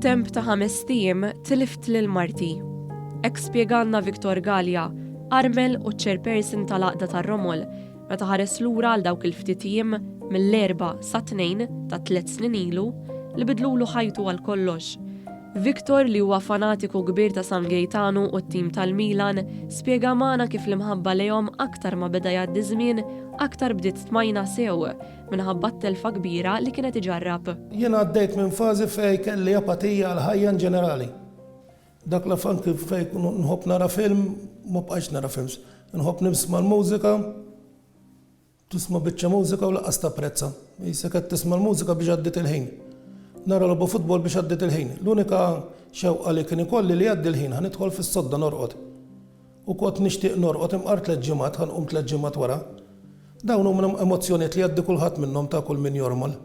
F'temp ta' ħames tim tilift lil marti. Ek spjegalna Viktor Gallia, armel u chairperson tal-Aqda tar-Romol, meta ħares lura għal dawk il-ftit jiem mill-erba sa tnejn ta' tliet snin ilu li bidlulu ħajtu għal kollox. Victor, li huwa fanatiku kbir ta' San Gejtanu u t-tim tal-Milan, spjega magħna kif l-imħabba lejhom aktar ma beda jgħaddi ż-żmien aktar bdiet tmajna sew minħabba t-telfa kbira li kienet iġarrab. Jien għaddejt minn fażi fejn kelli apatija għall-ħajja in ġenerali. Dak l-af anki fejn kont nħobb nara film, ma bqajtx nara films. Inħobb nisma' l-mużika. Tisma' biċċa mużika u lanqas tapprezza. Qisek qed tisma' l-mużika biex għaddiet il-ħin. Nara logħba futbol biex għaddiet il-ħin. L-unika xewqa li kien ikolli li jgħaddi l-ħin ħa nidħol fis-sodda norqod. U kont nixtieq norqod imqar tliet ġimgħat ħa nqum tliet ġimgħat wara. Dawn huma emozzjonijiet li jgħaddi kulħadd minnhom ta' kull min jormol.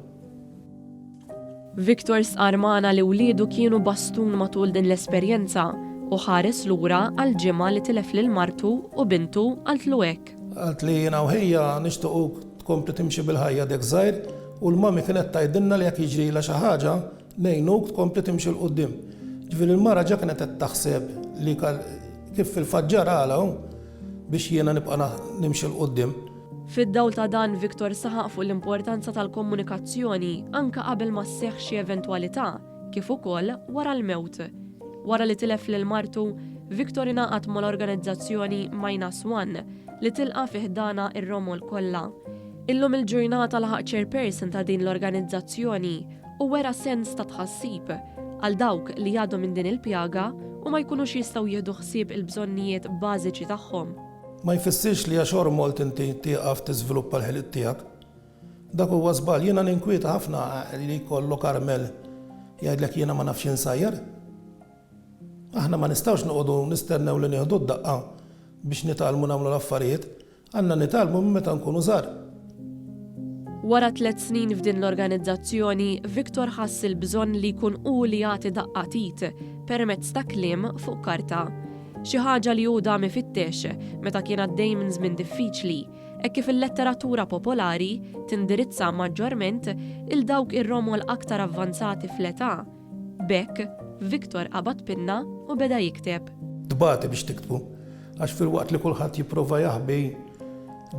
Victor stqarr magħna li wliedu kienu bastun matul din l-esperjenza u ħares lura għal ġimgħa li tilef lil martu u bintu qaltlu hekk. Għalt li jiena u ħija nixtiequk tkompli timxi bil-ħajja dek żgħir u l-mommy kienet tgħidilna li jekk jiġrilha xi ħaġa ngħinuk tkompli timxi 'l quddiem. Ġifieri l-mara ġa kienet qed taħseb li kif fil-fatt ġaralha biex jiena nibqa' nimxi 'l quddiem. Fid-dawl ta' dan, Victor saħaq fuq l-importanza tal-komunikazzjoni anke qabel ma sseħħ xi eventwalità, kif ukoll wara l-mewt. Wara li tilef lil martu, Victor ingħaqad mal-organizzazzjoni Minus One, li tilqa' fi ħdanha r-romol kollha. Illum il-ġurnata laħaq chairperson ta' din l-organizzazzjoni u wera sens ta' tħassib għal dawk li għadhom minn din il-pjaga u ma jkunux jistgħu jieħdu ħsieb il-bżonnijiet bażiċi tagħhom. Ma jfissirx li għax ormolt inti tieqaf tiżviluppa l-ħiliet tiegħek. Dak huwa żball. Jiena ninkwieta ħafna li jkollok armel jgħidlek jiena ma nafx insajjar. Aħna ma nistgħux noqogħdu nistennew li nieħdu d-daqqa biex nitgħallmu nagħmlu l-affarijiet. Għandna nitgħallmu minn meta nkunu żgħar. Wara tliet snin f'din l-organizzazzjoni, Victor ħass il-bżonn li jkun hu li jagħti daqqa t'id permezz ta' kliem fuq karta. Xi ħaġa li hu dam ifittex meta kien għaddej minn żmien diffiċli, hekk kif il-letteratura popolari tindirizza maġġorment 'il dawk ir-romol aktar avvanzati fl-età, B'hekk, Victor qabad pinna u beda jikteb. Tbati biex tiktbu, għax filwaqt li kulħadd jipprova jaħbi,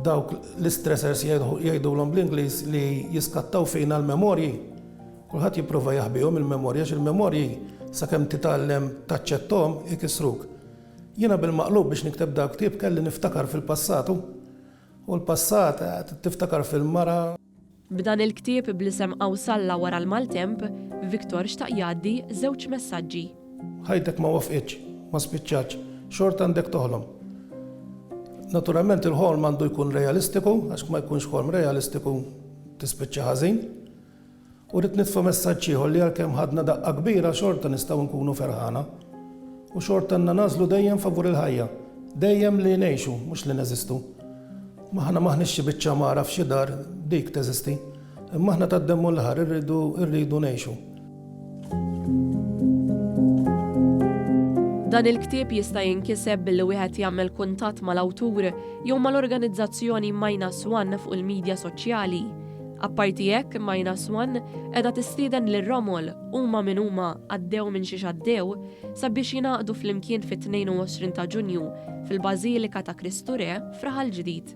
dawk l-istressers jgħidulhom bl-Ingliż li jiskattaw fina l-memorji, kulħadd jipprova jaħbihom il-memorji għax il-memorji sakemm titgħallem taċċetthom ikissruk. Jiena bil-maqlub biex nikteb dal-ktieb kelli niftakar fil-passat u l-passat tiftakar fil-mara, B'dan il-ktieb bl-isem Awsalla wara l-maltemp, Victor xtaq jgħaddi żewġ messaġġi. Ħajtek ma waffqitx, ma spiċċatx, xorta għandek toħlom. Naturalment il-ħolm għandu jkun realistiku għax kma jkunx ħolm realistiku tispiċċa ħażin. U rrid nitfa' messaġġ ieħor li għalkemm ħadna daqqa kbira xorta nistgħu nkunu ferħana. U xorta għandna nagħżlu dejjem favur il-ħajja. Dejjem li ngħixu, mhux li neżistu. M'aħna m'aħniex xi biċċa għamara f'xi dar, dik teżisti. Imma aħna tad-demm u l-laħar irridu rridu ngħixu. Dan il-ktieb jista' jinkiseb billi wieħed jagħmel kuntatt mal-awtur jew mal-organizzazzjoni Minus One fuq il-midja soċjali. Apparti hekk, Minus One qiegħda tistieden lil Romol, huma min huma, għaddew minn xiex għaddew, sabiex jingħaqdu flimkien fit-22 ta' Ġunju fil-Bażilika ta' Kristu Re f'Raħal Ġdid.